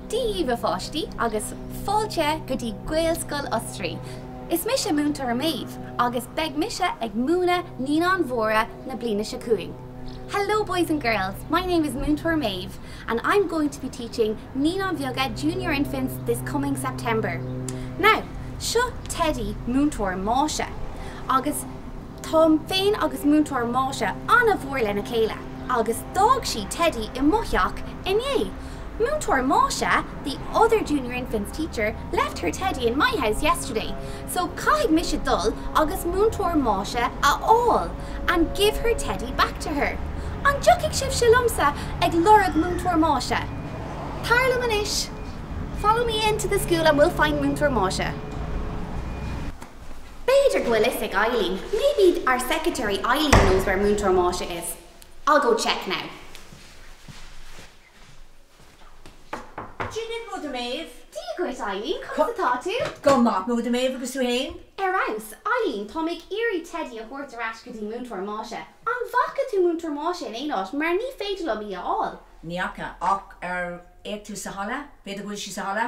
Dia dhaoibh a pháistí agus fáilte go dtí Gaelscoil Osraí. Is mise Múinteoir Maeve agus beidh mise ag múineadh Naíonáin Mhóra na bliana seo chugainn. Hello boys and girls, my name is Múinteoir Maeve and I'm going to be teaching Naíonáin Bheaga, Junior Infants, this coming September. Now, seo Teddy Múinteoir Máise agus Táim féin agus Múinteoir Máise an-mhór lena chéile agus d'fhág sí Teddy i mo theach inné. Múinteoir Máise The other Junior Infants teacher left her Teddy in my house yesterday, so caithfidh mise dul agus Múinteoir Máise a fháil and give her Teddy back to her. An dtiocfaidh sibhse liomsa ag lorg Múinteoir Máise? Tar liom anois! Follow me in to the school and we'll find Múinteoir Máise. B'fhéidir go bhfuil a fhios ag Eileen, maybe our secretary Eileen knows where Múinteoir Máise is. I'll go check now. Dia dhuit, Múinteoir Maeve. Dia dhuit, Eileen. Conas atá tú? Go maith, Múinteoir Maeve agus tú fhéin? Ar fheabhas. Eileen, táim ag iarraidh Teddy a thabhairt ar ais go dtí Múinteoir Máise. An bhfaca tú Múinteoir Máise in aon áit mar ní féidir liom í a fháil? Ní fhaca. Ach ar fhéach tú sa halla? B'fhéidir go bhfuil sí sa halla?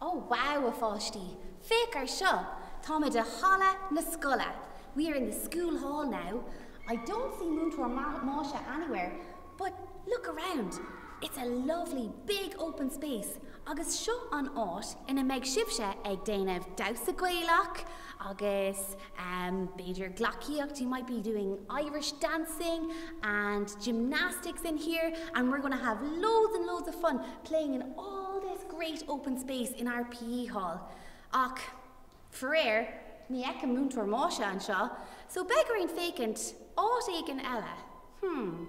Ó wow a pháistí, féach ar seo! Táimid i halla na scoile, we are in the school hall now. I don't see Múinteoir Máise anywhere but look around, it's a lovely big open space agus seo an áit ina mbeidh sibhse ag déanamh damhsa Gaelach agus ehm b'fhéidir gleacaíocht, you might be doing Irish dancing and gymnastics in here and we're going to have loads and loads of fun. playing in all this great open space in our P.E. hall, ach faraor, ní fheicim Múinteoir Máise anseo, so beidh orainn féachaint áit éigin eile. Hmm.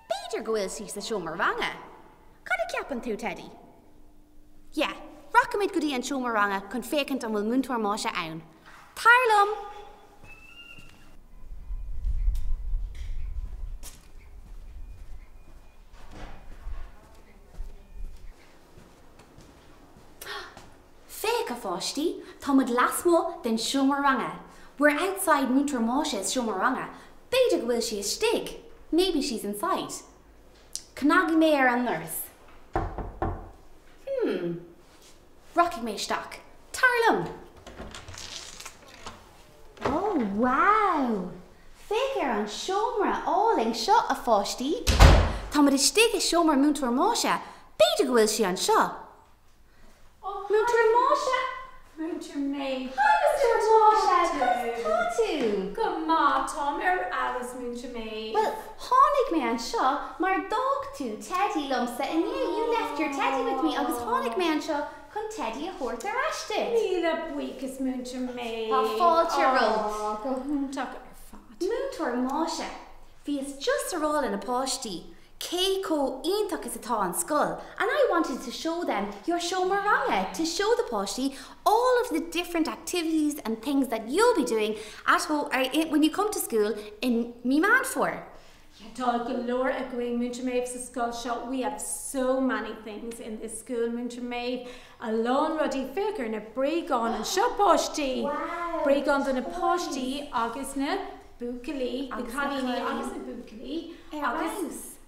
B'fhéidir go bhfuil sí sa seomra ranga. Cad a cheapann tú, Teddy? Yeah, rachaimid go dtí an seomra ranga chun féachaint an bhfuil Múinteoir Máise ann. Tar liom! Féach, a pháistí, táimid lasmuigh den seomra ranga. We're outside Múinteoir Máise's seomra ranga. B'fhéidir go bhfuil sí istigh. Maybe she's inside. Cnagfaidh mé ar an ndoras. Hmm. Rachaidh mé isteach. Tar liom. Ó, wow! Féach ar an seomra álainn seo, a pháistí. Táimid istigh i seomra Múinteoir Máise. B'fhéidir go bhfuil sí anseo. Ó, Múinteoir Máise! Múinteoir Maeve! Hi, Múinteoir Máise! Conas atá tú? Go maith, táim ar fheabhas, Múinteoir Maeve. Bhuel, Tháinig mé anseo mar d'fhág tú teidí liomsa inné, you left your teddy with me, agus tháinig mé anseo chun teidí a thabhairt ar ais duit. Míle buíochas Múinteoir Maeve. Tá fáilte romhat. Ááá, go hiontach ar fad. Múinteoir Máise, Bhíos just a rá le na páistí cé chomh iontach is atá an scoil and I wanted to show them your seomra ranga, to show the páistí all of the different activities and things that you'll be doing at ho or i when you come to school in Mí Meán Fómhair. Yeah, tá go leor againn, Múinteoir Maeve, sa scoil seo. We have so many things in this school, Múinteoir Maeve, a lán rudaí. Féach ar na bréagáin anseo, páistí! Wow! Bréagáin do na páistí agus na buachaillí, na cailíní agus na buachaillí. Ar agus...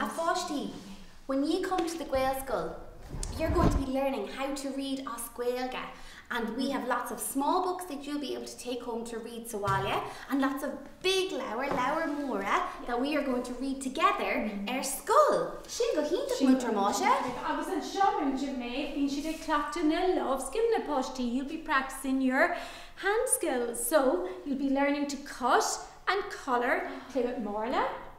A pháistí, when ye come to the Gaelscoil you're going to be learning how to read as Gaeilge and we have lots of small books that you'll be able to take home to read sa bhaile and lots of big leabhair, leabhair mhóra, that we are going to read together ar scoil. Sin go hiontach, Múinteoir Máise. Agus anseo, Múinteoir Maeve, bíonn siad ag cleachtadh na lámhscileanna, páistí, you'll be practising your hand skills. So, you'll be learning to cut and colour, play marla.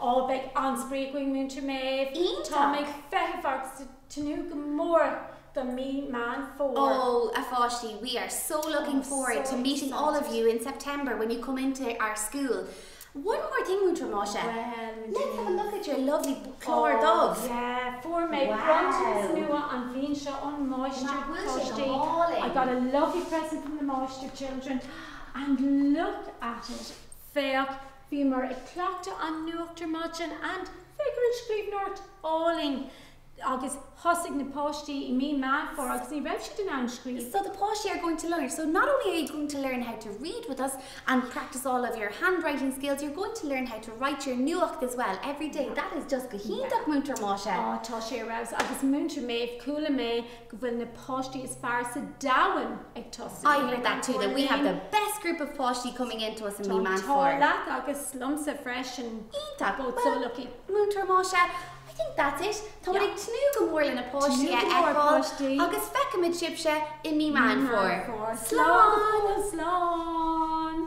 Á, beidh an-spraoi againn, Múinteoir Maeve. Iontach! Táim ag feitheamh agus ag tnúth go mór do mí Meán Fómhair. Ó, a pháistí, we are so looking forward to meeting all of you Oh, so excited. in September when you come into our school. One more thing, Múinteoir Máise. Bhuel, muid Let's have a look at your lovely book, clár dubh. Ó, yeah. Fuair mé bronntanas Wow! nua an bhliain seo ón Máistir, páistí. Nach bhfuil sé go hálainn! I got a lovely present from the Máistir, children, and look at it! Féach! Bhíomar ag cleachtadh an nuacht ar maidin and féach ar an scríbhneoireacht álainn agus thosaigh na páistí i mí Meán Fómhair agus ní raibh siad in ann scríobh. So the páistí are going to learn, so not only are you going to learn how to read with us and practice all of your handwriting skills, you're going to learn how to write your nuacht as well every day. That is just go hiontach, Múinteoir Máise. Á, tá sé ar fheabhas agus Múinteoir Maeve, chuala mé go bhfuil na páistí is fearr sa domhan ag tosú. I heard that too, that we have the best group of páistí coming in to us in Mí Meán Fómhair. Tá an t-ádh leat agus liomsa freisin. Iontach. Both so lucky. Múinteoir Máise, I think that's it. Táimid ag tnúth go mór le na páistí a fheiceáil agus feicimid sibhse i Mí Meán Fómhair. Slán! Slán!